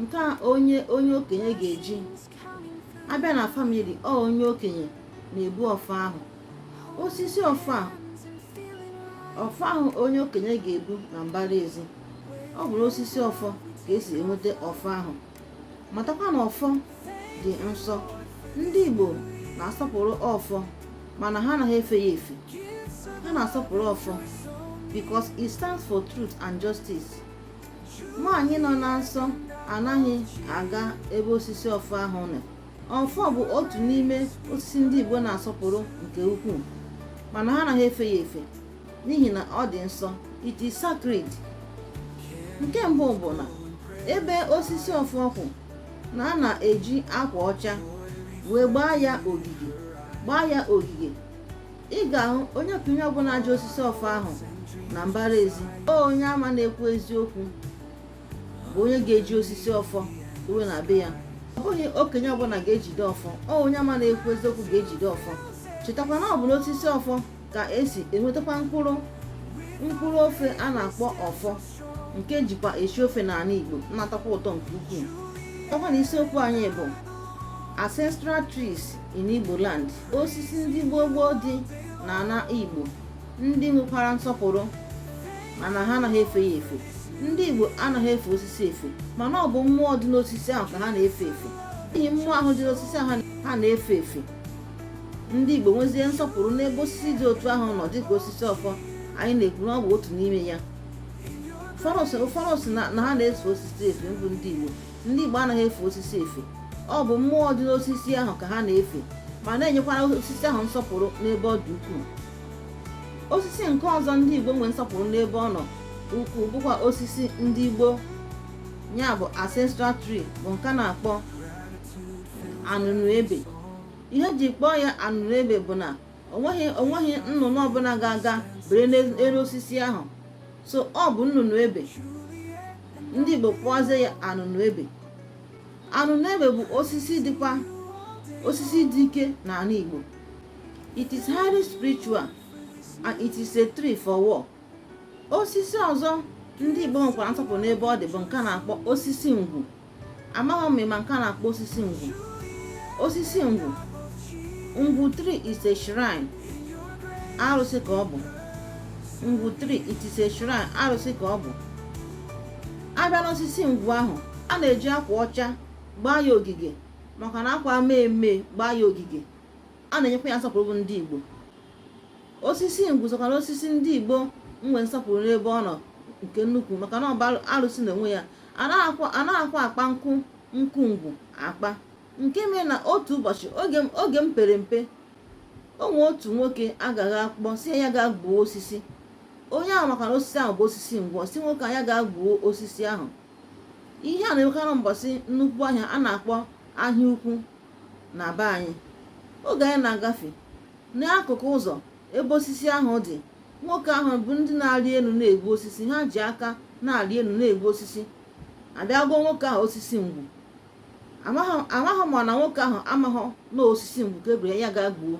nke a onye onye okenye ga-eji abịa na family ọ onye okenye na-ebu ọfọ ahụ osisi ọfọ ahụ ọfọ ahụ onye okenye ga-ebu na mbara ezi ọ bụrụ osisi ọfọ ka esi enweta ọfọ ahụ matakwa na ọfọ dị nsọ ndị Igbo na-asọpụrụ ọfọ mana ha anaghị efe ya efe ha na-asọpụrụ ọfọ because it stands for truth and justice nwaanyị nọ na nsọ anaghị aga ebe osisi ọfọ ahụ nọ ọfọ bụ otu n'ime osisi ndị Igbo na-asọpụrụ nke ukwuu mana ha anaghị efe ya efe n'ihi na ọ dị nsọ it is sacred nke mbụ bụ na ebe osisi ọfọ kwụ na a na-eji akwa ọcha wee gbaa ya ogige gbaa ya ogige ị ga-ahụ onye okenye ọbụla ji osisi ọfọ ahụ na mbara ezi ọ onye ama na-ekwu eziokwu bụ onye ga-eji osisi ọfọ dowe na be ya ọ bụghị okenye ọbụla ga-ejide ọfọ ọ onye ama na-ekwu eziokwu ga-ejide ọfọ chetakwa na ọ bụ n'osisi ọfọ ka esi enwetakwa mkpụrụ mkpụrụ ofe a na-akpọ ọfọ nke ejikwa esi ofe n'ala Igbo na-atọkwa ụtọ nke ukwuu ọkwa na isiokwu anyị bụ ancestral trees in Igbo land osisi ndị gboo gboo dị n'ala Igbo ndị nwekwara nsọpụrụ mana ha anaghị efe ya efe ndị Igbo anaghị efe osisi efe mana ọ bụ mmụọ dị n'osisi ahụ ka ha na-efe efe n'ihi mmụọ ahụ dị n'osisi ahụ ha na-efe efe ndị Igbo nwezie nsọpụrụ n'ebe osisi dị otu ahụ nọ dịka osisi ọfọ anyị na-ekwu na ọ bụ otu n'ime ya ụfọdụ si na ha na-efe osisi efe bụ ndị Igbo ndị Igbo anaghị efe osisi efe ọ bụ mmụọ dị n'osisi ahụ ka ha na-efe ma na-enyekwara osisi ahụ nsọpụrụ n'ebe ọ dị ukwuu osisi nke ọzọ ndị Igbo nwee nsọpụrụ n'ebe ọ nọ ukwuu bụkwa osisi ndị gboo ya bụ ancestral tree bụ nke a na-akpọ anụnụ ebe ihe eji kpọọ ya anụnụ ebe bụ na onweghị onweghị nnụnụ ọbụla ga-aga bere n'elu osisi ahụ so ọ bụ nnụnụ ebe ndị Igbo kpọzie ya anụnụ ebe anụnụ ebe bụ osisi dịkwa osisi dị ike n'ala Igbo it is highly spiritual and it is a tree for war osisi ọzọ ndị Igbo nwekwara nsọpụrụ n'ebe ọ dị bụ nke a na-akpọ osisi ngwu amaghị m ma nke a na-akpọ osisi ngwu osisi ngwu ngwu tree is a shrine arụsị ka ọ bụ ngwu tree it is a shrine arụsị ka ọ bụ abịa n'osisi ngwu ahụ a na-eji akwa ọcha gbaa ya ogige makwa na akwa mmee mmee gbaa ya ogige a na-enyekwa ya nsọpụrụ bụ ndị Igbo osisi ngwu sokwa n'osisi ndị Igbo nwee nsọpụrụ n'ebe ọ nọ nke nnukwu maka na ọ bụ arụsị na onwe ya anaghịkwa akpa nkụ nkụ ngwu akpa nke mere na otu ụbọchị oge m pere mpe o nwe otu nwoke agaghị akpọ si ya ga gbuo osisi onye ahụ maka na osisi ahụ bụ osisi ngwu si nwoke a ya ga gbuo osisi ahụ ihe a na-enwekarị mbọsị nnukwu ahịa a na-akpọ ahịa ukwu na be anyị oge anyị na-agafe n'akụkụ ụzọ ebe osisi ahụ dị nwoke ahụ bụ ndị na-arị elu na-egbu osisi ha ji aka na-arị elu na-egbu osisi a bịa goo nwoke ahụ osisi ngwu amaghị m na nwoke ahụ amaghị na osisi ngwu ka ebere ya ga gbuo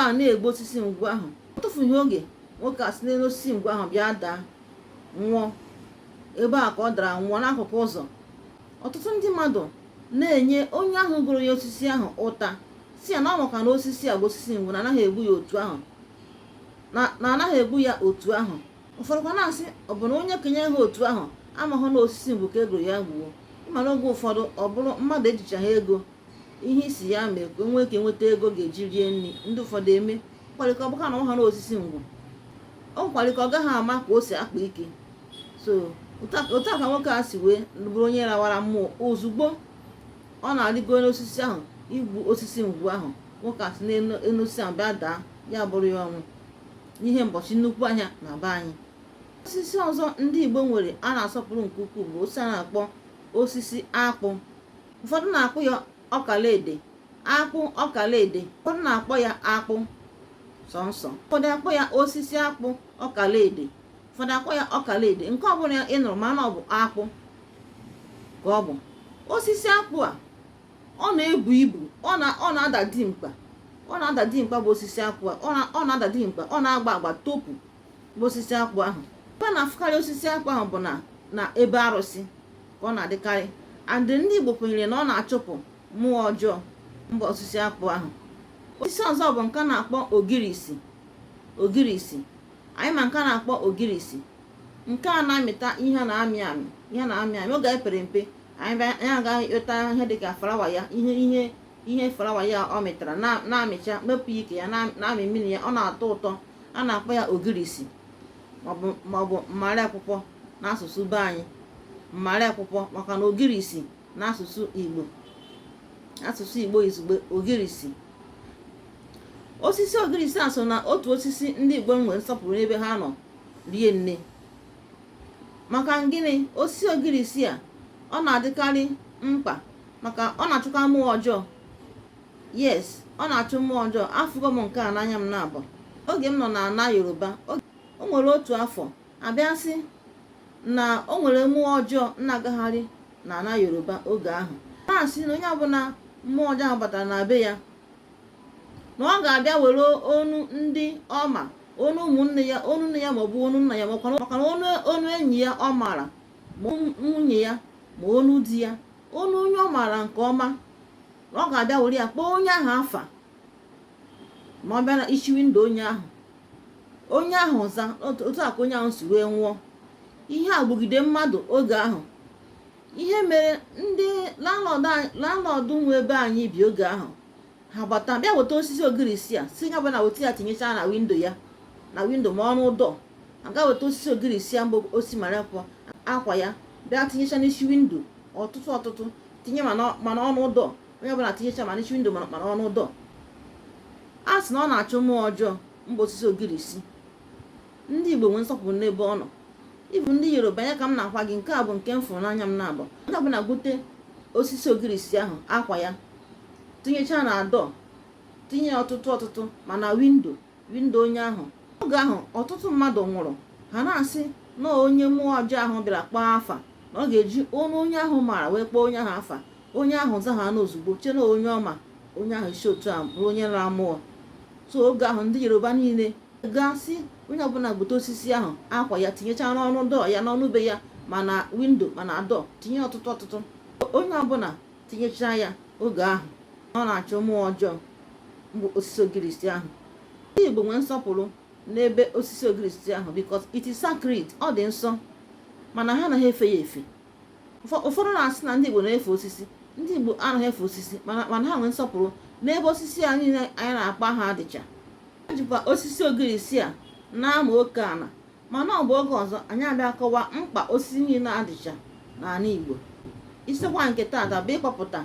a na-egbu osisi ngwu ahụ o tufughị oge nwoke a si n'elu osisi ngwu ahụ bịa daa nwụọ ebe a ka ọ dara nwụọ n'akụkụ ụzọ ọtụtụ ndị mmadụ na-enye onye ahụ goro ya osisi ahụ ụta si ya na ọ maka na osisi a bụ osisi ngwu na anaghị egbu ya otu ahụ na anaghị egbu ya otu ahụ ụfọdụkwa na-asị ọ bụ na onye kenye ha otu ahụ amaghị na osisi ngwu ka e goro ya gbuo ị ma na oge ụfọdụ ọ bụrụ mmadụ ejichaghị ego ihe isi ya mee ka o nwee ike nweta ego ga-eji rie nri ndị ụfọdụ eme kwarịka ọ bụka na ọha na osisi ngwu ọ kwarịka ọ gaghị ama ka o si akpa ike so otu a ka nwoke a si wee bụrụ onye rawara mmụọ ozugbo ọ na-arịgo n'osisi ahụ igbu osisi ngwu ahụ nwoke a si n'elu osisi ahụ bịa daa ya bụrụ ya ọnwụ n'ihe mbọchị nnukwu ahịa na be anyị osisi ọzọ ndị Igbo nwere a na-asọpụrụ nke ukwuu bụ osisi a na-akpọ osisi akpụ ụfọdụ na-akpọ ya ọkalaede akpụ ọkalaede ụfọdụ na-akpọ ya akpụ sọnsọ ụfọdụ akpọ ya osisi akpụ ọkalaede ụfọdụ akpọ ya ọkalaede nke ọbụla ị nụrụ ma na ọ bụ akpụ ka ọ bụ osisi akpụ a ọ na-ebu ibu ọ na-ada dimkpa ọ na-ada dimkpa bụ osisi akpụ a ọ na-ada dimkpa ọ na-agba agba topu bụ osisi akpụ ahụ ebe a na-afụkarị osisi akpụ ahụ bụ na ebe arụsị ka ọ na-adịkarị and ndị Igbo kwenyere na ọ na-achụpụ mmụọ ọjọọ mba osisi akpụ ahụ osisi ọzọ bụ nke a na-akpọ ogirisi ogirisi anyị ma nke a na-akpọ ogirisi nke a na-amịta ihe na-amị amị ihe na-amị amị oge anyị pere mpe anyị agaghị ịkpeta ihe dịka flawa ya ihe ihe ihe flawa ya ọ mịtara na-amịcha mepụ ike ya na-amị mmiri ya ọ na-atọ ụtọ a na-akpọ ya ogirisi maọbụ mmarị akwụkwọ n'asụsụ be anyị mmarị akwụkwọ maka na ogirisi n'asụsụ igbo asụsụ igbo izugbe ogirisi osisi ogirisi a so na otu osisi ndị igbo nwere nsọpụrụ n'ebe ha nọ rie nne maka gịnị osisi ogirisi a ọ na-adịkarị mkpa maka ọ na-achụka mmụọ ọjọọ yes ọ na-achụ mmụọ ọjọọ afụgo m nke a n'anya m na-abụ oge m nọ na ana yoruba o nwere otu afọ a bịa sị na o nwere mmụọ ọjọọ na-agagharị na ana yoruba oge ahụ na-asị na onye ọbụla mmụọ ọjọọ ahụ batara na be ya na ọ ga-abịa were onu ndị ọ ma onu ụmụnne ya onu nne ya maọbụ onu nna ya maka na onu enyi ya ọ maara ma nwunye ya ma onu di ya onu onye ọ maara nke ọma na ọ ga-abịa were ya kpọọ onye ahụ afa ma ọ bịa na isi windo onye ahụ onye ahụ za otu a ka onye ahụ si wee nwụọ ihe a gbugide mmadụ oge ahụ ihe mere ndị landlọdụ nwe ebe anyị bi oge ahụ ha gbata bịa weta osisi ogirisi a sị onye ọbụna weta ya tinyecha na windo ya na windo ma ọnụ dọọ a gaa weta osisi ogirisi a mbụ osi mara akwụkwọ ya bịa tinyecha n'isi windo ọtụtụ ọtụtụ tinye ma n'ọnụ dọọ onye ọbụla tinyecha ma n'isi windo ma n'ọnụ dọọ a sị na ọ na-achụ mmụọ ọjọọ bụ osisi ogirisi ndị igbo nwee nsọpụrụ n'ebe ọ nọ even ndị yoruba ya ka m na-agwa gị nke a bụ nke m fụrụ n'anya m na-abụ onye ọbụla gbute osisi ogirisi ahụ akwa ya tinyechaa na dọọ tinye ọtụtụ ọtụtụ ma na windo windo onye ahụ oge ahụ ọtụtụ mmadụ nwụrụ ha na-asị na onye mmụọ ọjọọ ahụ bịara kpọọ afa na ọ ga-eji onu onye ahụ maara wee kpọọ onye ahụ afa onye ahụ za ha n'ozugbo chee na onye ọ ma onye ahụ si otu a bụrụ onye nara mmụọ so oge ahụ ndị yoruba niile ga-asị onye ọbụla gbute osisi ahụ akwa ya tinyechaa n'ọnụ dọọ ya n'ọnụ be ya ma na windo ma na dọọ tinye ọtụtụ ọtụtụ onye ọbụla tinyechaa ya oge ahụ ọ na-achụ mmụọ ọjọọ bụ osisi ogirisi ahụ ndị Igbo nwee nsọpụrụ n'ebe osisi ogirisi ahụ because it is sacred ọ dị nsọ mana ha anaghị efe ya efe ụfọdụ na-asị na ndị Igbo na-efe osisi ndị Igbo anaghị efe osisi mana ha nwee nsọpụrụ n'ebe osisi a niile anyị na-akpọ aha dịcha e jikwa osisi ogirisi a na-ama oke ala mana ọ bụ oge ọzọ anyị abịa kọwa mkpa osisi niile a dịcha n'ala Igbo isiokwu nke taata bụ ịkpọpụta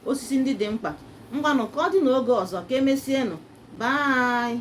osisi ndị dị mkpa ngwanụ ka ọ dị n'oge ọzọ ka emesienụ bye